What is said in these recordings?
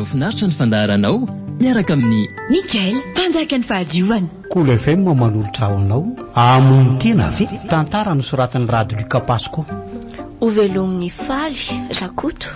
Mahafinaritra ny fandaharanao miaraka amin'ny. Mickael, mpanjaka ny fahadiovana. Cool FM manolotra ho anao Hamono tena ve? Tantara nosoratan'i Rado Luca Pasco. Hovelomin'i Faly Rakoto.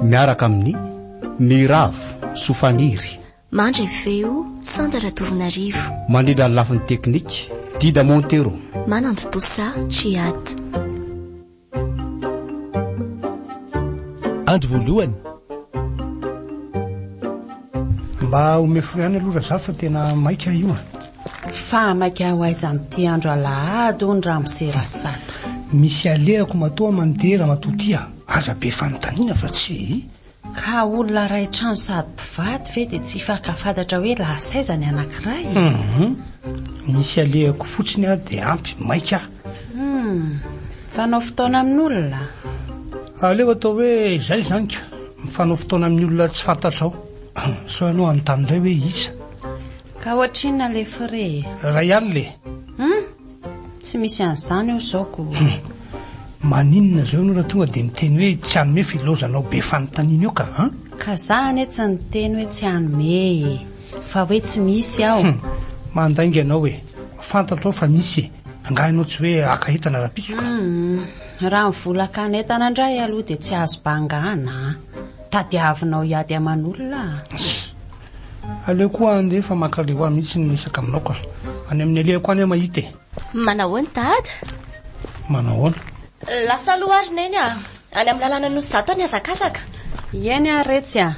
Miaraka amin'i Miravo Sofaniry. Mandre feo, Santa Ratovonarivo. Manila ny lafiny teknika, Dida Montero. Manantontosa, Chiad. Andro voalohany. Mba omeo fo ihany aloha Razafy fa tena maika io a. Fa maika ho aiza amin'ity andro alahady hono ramose Rasata. Misy alehako matoa mandeha ramatoa tia. Aza be fanontaniana fa tsy. Ka olona iray trano sady mpivady ve dia tsy hifankafantatra hoe laha saiza ny anankiray e? Hum, misy alehako fotsiny aho dia ampy, maika aho. Hum, mifanao fotoana amin'olona? Aleo atao hoe izay izany ka, mifanao fotoana amin'ny olona tsy fantatrao. Sao ianao hanontany indray hoe iza? Ka ohatrinona ilay frais e? Iray alina e! Hum, Tsy misy an'izany eo izao ko. Maninona zao ianao raha tonga dia miteny hoe tsy hanome filaozanao be fanontaniana io ka an? Ka za anie tsy niteny hoe tsy hanome e! Fa hoe tsy misy aho. Hum, mandainga ianao e! Fantatro aho fa misy e! Angaha ianao tsy hoe haka entana rahampitso ka? Hum, raha ny vola hakana entana indray aloha dia tsy azo bangàna an! Tadiavinao hiady aman'olona an! Aleo koa any re fa mankaleo ahy mihitsy ny miresaka aminao ka. Any amin'ny alehako any aho mahita e. Manahoana dada? Manahoana? Lasa aloha ary neny a. Any amin'ny lalana nosy zato any hazakazaka. Ieny ary retsy a.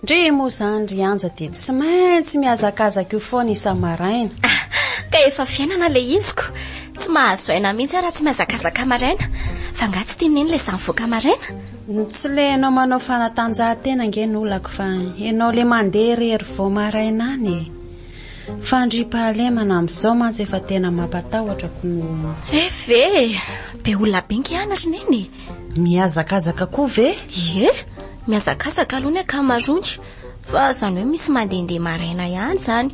Ndry moa izany ry Anja dia tsy maintsy mihazakazaka io foana isa-maraina. Ka efa fiainana ilay izy ko. Tsy mahazo aina mihitsy aho raha tsy mihazakazaka maraina. Fa angaha tsy tian'i neny ilay izaho mivoaka maraina? Tsy le enao manao fanatanjahantena ange no olako fa enao le mandeha irery vao maraina any e. Fandriampahalemana amin'izao mantsy efa tena mampatahotra ko no. FV, be olona be nge any ry neny e. Mihazakazaka koa ve? Ie, mihazakazaka aloha ny ankamaroany fa izany hoe misy mandehandeha maraina ihany izany.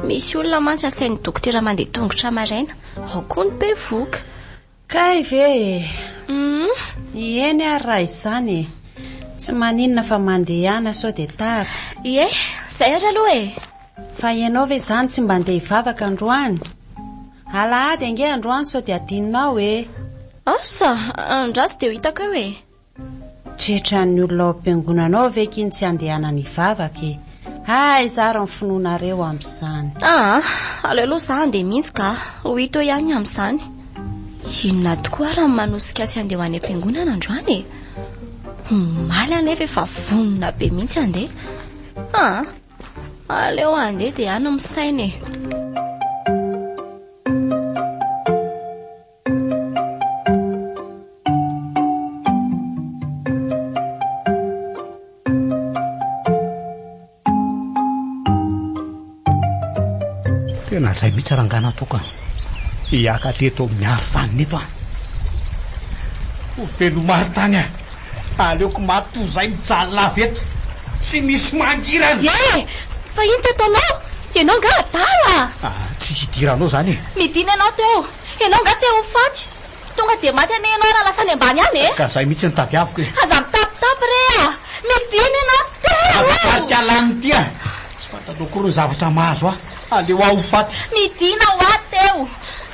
Misy olona mantsy asain'ny dokotera mandeha tongotra maraina, ao koa ny bevohoka. Kay ve e! Humm! Eny ary raha izany e! Tsy maninona fa mandehana sao dia tara. Ie, izay ary aloha e! Fa ianao ve izany tsy mba handeha hivavaka androany? Alahady ange androany sao dia adinonao e! Asa, andraso dia ho hitako eo e! Tretran'ny olona ao am-piangonana ao ve k'iny tsy handehanany hivavaka e! Aiza ary ny finoanareo amin'izany? Aa! aleo aloha za handeha mihitsy ka! ho hita eo ihany ny amin'izany! Inona tokoa ary no manosika azy handeha ho any am-piangonana androany e! omaly anefa efa vonona be mihitsy handeha! aa! aleo handeha dia any no misaina e! Tena izay mihitsy rangahy nataoko an. Hiaka teto amin'ny arofanina eto an. Ho velomary tany an. Aleoko maty toy izay mijaly lava eto. Tsy misy mangirana. Eh, fa inona teto anao? Ianao angaha adala? Ah, tsy hidiranao izany e. Nidina ianao teo. Ianao nga te ho faty? Tonga dia maty anie ianao raha lasa any ambany any e! Ka zay mihitsy no tadiaviko e! Aza mitapitapy re a! Mety iny ianao te ho. Aza tarika lany ity a! Tsy fantanao akory ny zavatra mahazo ahy. Aleo aho ho faty. Midina ho ahy teo!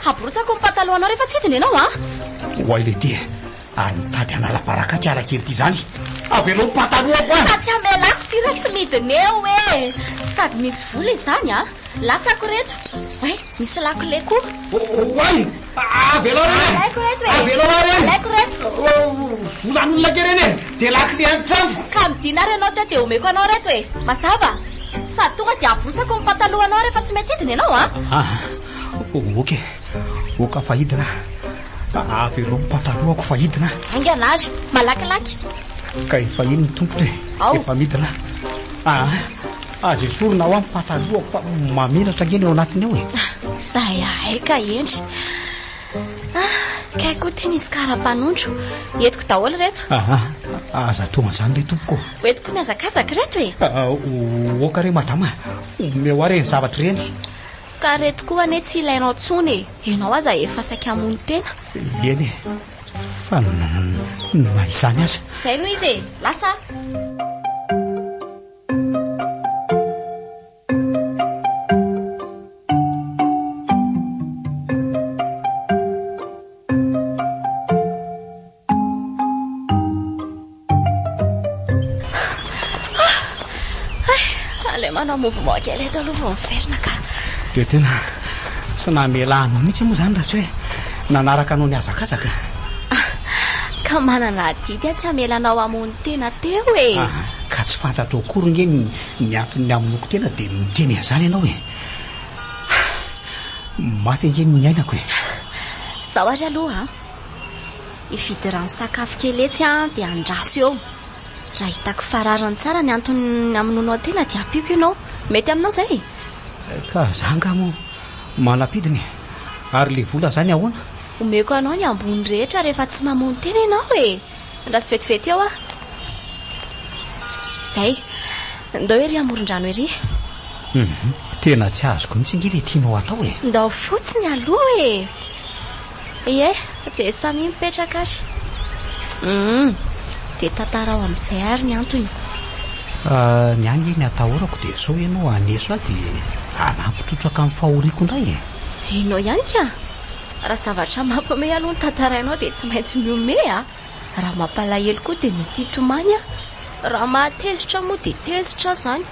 Haborotako ny patalohanao rehefa tsy hidina ianao a! Oay ilay ity e! Ary mitady hanala baraka ity ala kely ity izany! Avelo ny patalohako a! Ka tsy hamela ahy ity raha tsy midina eo e! Sady misy vola izany a! Lasako reto. Ay, misy lakile koa. Oay! Avelao reny! Alaiko reto e! Avelao aho reny! Alaiko reto! Volan'olona ke reny e! Dia lakile an'ny tranoko! Ka midina ary ianao teo dia omeko anao reto e! Mazava? Sady tonga dia abosako ny patalohanao rehefa tsy mety hidina ianao an! Ah, ok. Ok fa hidina aho. Avelao ny patalohako fa hidina aho. Haingana ary, malakilaky. Ka efa iny ny tompony e! Ao. Efa midina aho. Ah. Aza esorina ao amin'ny pataloako fa mamiratra ange ny ao anatiny ao e. Zahay ahay ka Hendry. Ah, kay koa ity misy kara-panondro. Entiko daholo reto. Ah, ah, aza atao an'izany re tompoko. Hoentiko mihazakazaka reto e. Ah, ah, o- Oka re madama, omeo ahy ireny zavatra ireny. Ka reto koa anie tsy ilainao tsony e. Ianao aza efa saika hamono tena. Eny e, fa n- n- na izany aza. Izay no izy e. Lasa. mouvement kely eto aloha vao miverina ka dia tena tsy namela anao mihitsy moa izany raha tsy hoe nanaraka anao nihazakazaka ah, ka manana adidy a tsy hamela anao hamono Tena teo e! Aa ka tsy fantatrao akory nge ny ny anton'ny hamonoako tena dia miteny an'izany ianao e! Aa mafy ange ny niainako e! Izao ary aloha an! Hividy rano sakafo kely etsy aho dia andraso eo. Raha hitako fa rariny tsara ny anton'ny hamonoanao ahy tena dia ampiako ianao. Mety aminao izay e? Ka za angaha moa manam-pidiny e! Ary ilay vola izany ahoana? Omeko anao ny ambony rehetra rehefa tsy mamono tena ianao e! Andraso vetivety eo aho. Izay. Ndao ery amoron-drano ery. Mhm. Tena tsy azoko mihitsy ange ilay tianao atao e. Ndao fotsiny aloha e. Ie, dia samia mipetraka ary. Mhm. Dia tantarao amin'izay ary ny antony. Ah, ny ahy nge ny atahorako dia sao ianao haneso ahy dia hanampy trotraka amin'ny fahoriako indray e. Ianao ihany ka. Raha zavatra mampihomehy aloha no tantarainao dia tsy maintsy mihomehy a! Raha mampalahelo koa dia mety hitomany a! Raha mahatezitra moa dia tezitra aza izany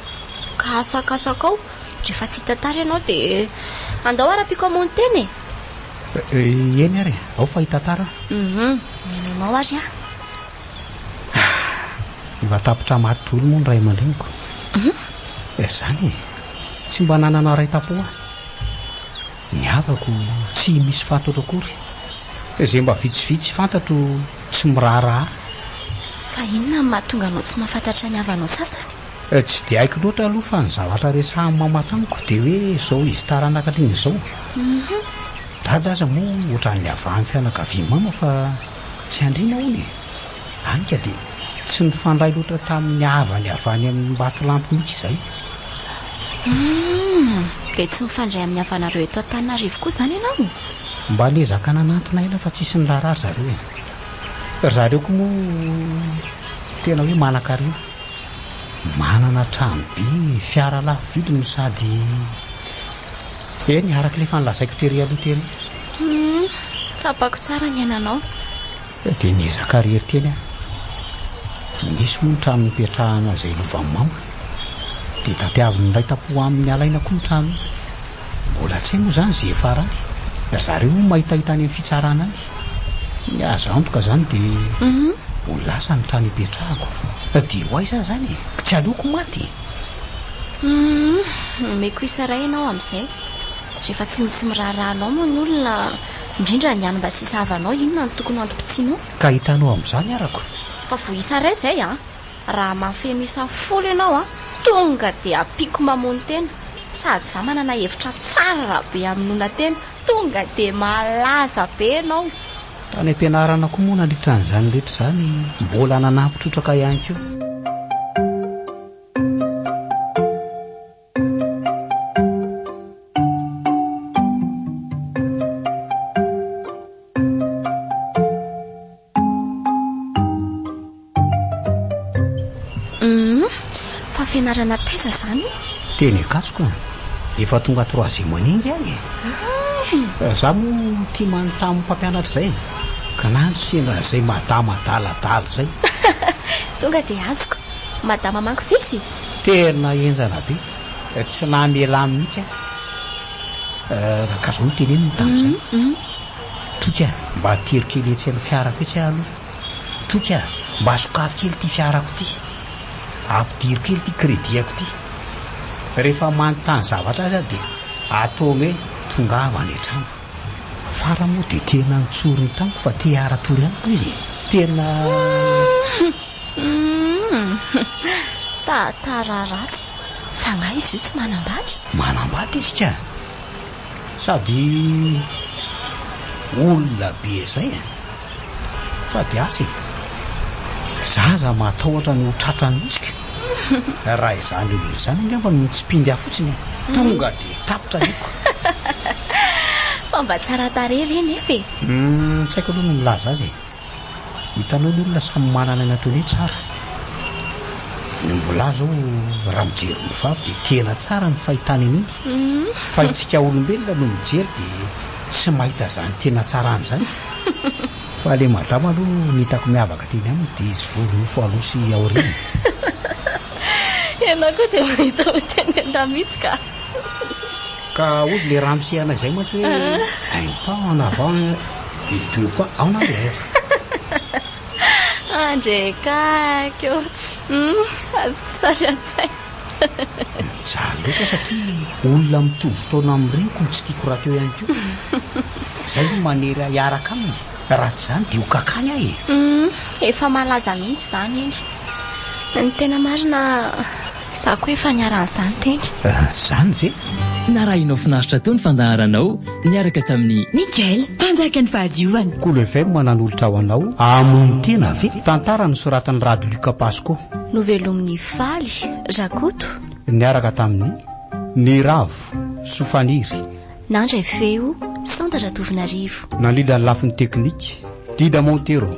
ka asakasakao rehefa tsy hitantara ianao dia andao ara-piko hamono tena e! Eny ary e! Ao fa hitantara aho. Hum, ny ananao ary a! Efa tapitra maty daholo moa ny ray aman-dreniko. Hum? Izany e! Tsy mba nanana ray tampo aho. Ny havako tsy misy fantatro akory. Izay mba vitsivitsy fantatro tsy miraharaha. Fa inona no mahatonga anao tsy mahafantatra ny havanao sasany? Tsy dia haiko loatra aloha fa ny zavatra resahin'i Mama tamiko dia hoe izao izy taranaka an'iny izao. Dada aza moa ohatran'ny havahan'ny fianakavian'i Mama fa tsy andriana hono e. Hany ka dia tsy nifandray loatra tamin'ny havany avy any Ambatolampy mihitsy izay. Humm! Dia tsy mifandray amin'ny havanareo eto Antananarivo koa izany ianao? Mba niezaka nanantona aina fa tsisy niraharaha ry zareo e. Ry zareo koa moa tena hoe manankarena. Manana trano be, fiara lafo vidy no sady Eny, araka ilay efa nolazaiko tery aloha tery. Humm! Tsapako tsara ny ainanao. Dia niezaka irery teny aho. Nisy moa ny trano nipetrahana izay lovan'i Mama. Dia tadiavin'ny iray tam-po aminy alaina koa io trano io. Mbola tsy hay moa izany izay farany. Ry zareo moa mahitahita any amin'ny fitsarana any. Ny azo antoka izany dia ho lasa ny trano ipetrahako. Dia ho aiza aho izany e? Tsy aleoko maty e! Omeko isa iray ianao amin'izay. Rehefa tsy misy miraharaha anao moa ny olona Indrindra ny any mba sisa havanao inona no tokony hantom-pitsianao? Ka hitanao amin'izany arako. Fa vao isa iray izay an! Raha mahafeno isa folo ianao an, tonga dia ampiako mamono tena. Sady izaho manana hevitra tsara raha be hamonoana tena, tonga dia malaza be ianao. Tany am-pianarana koa moa nandritra an'izany rehetra izany mbola nanampy trotraka ihany koa. fianarana taiza zany teny akasoka efa tonga troisième année ingy any e ah. eh, za moa tia manontany mpampianatra izay ka na no sendra izay madama daladala izay tonga dia azoko madama manko fisy Tena henjana be, tsy namelà mihitsy aho. Ka zao no teneniny tamin'izay, Toky a, mba atero kely etsy amin'ny fiarako etsy aho aloha. Toky a, mba sokafy kely ity fiarako ity. Ampidiro kely ity crédit-ako ity. Rehefa manontany zavatra aza aho dia ataony hoe tongava any an-trano. Fara moa dia tena nitsorina tamiko fa te haratory amiko izy e. Tena. Tantara ratsy. Fanahy izy io tsy manambady. Manambady izy ka. Sady olona be izay e. Fa dia asa e! Za aza matahotra ny ho tratran'ny hitsiko e! Raha izany olona izany angamba no mitsipindy ahy fotsiny e! Tonga dia tapitra ny hoko! Fa mba tsara tarehy ve nefa e? Hum, tsy haiko aloha ny milaza azy e! Hitanao ny olona samy manana ny ataony hoe tsara. Ny ombilahy izao raha mijery ombivavy dia tena tsara ny fahitany an'iny. Fa itsika olombelona no mijery dia tsy mahita izany tena tsarany izany. Fa le madama aloha ny hitako miavaka teny aminy dia izy vory nofo aloha sy aoriana. Ianao koa dia mahita ho teny an-dahy mihitsy ka. Ka ozy le raha misehana izay mantsy hoe un pas en avant et deux pas en arrière. Andrekakyo. Hum, azoko sary an-tsaina. Mijaly loatra satria olona mitovy taona amin'ny reniko no tsy tiako rahateo ihany koa. Izay no manery ahy hiaraka aminy. Raha tsy izany dia ho kakany aho e. Hum, efa malaza mihitsy izany iny. Ny tena marina, izaho koa efa niharan'ny izany teny. Ah, izany ve? Narahinao finaritra teo ny fandaharanao niaraka tamin'i. Mickael, mpanjakan'ny fahadiovana. Kolo FM nanolotra ho anao, Hamono tena ve? Tantara nosoratan'i Rado Luc Pasco. Novelomin'i. Faly, Rakoto. Niaraka tamin'i. Ny Ravo, Sofaniry. Nandray feo, Santa Ratovonarivo. Nandrindra ny lafiny teknika, Dida Montero.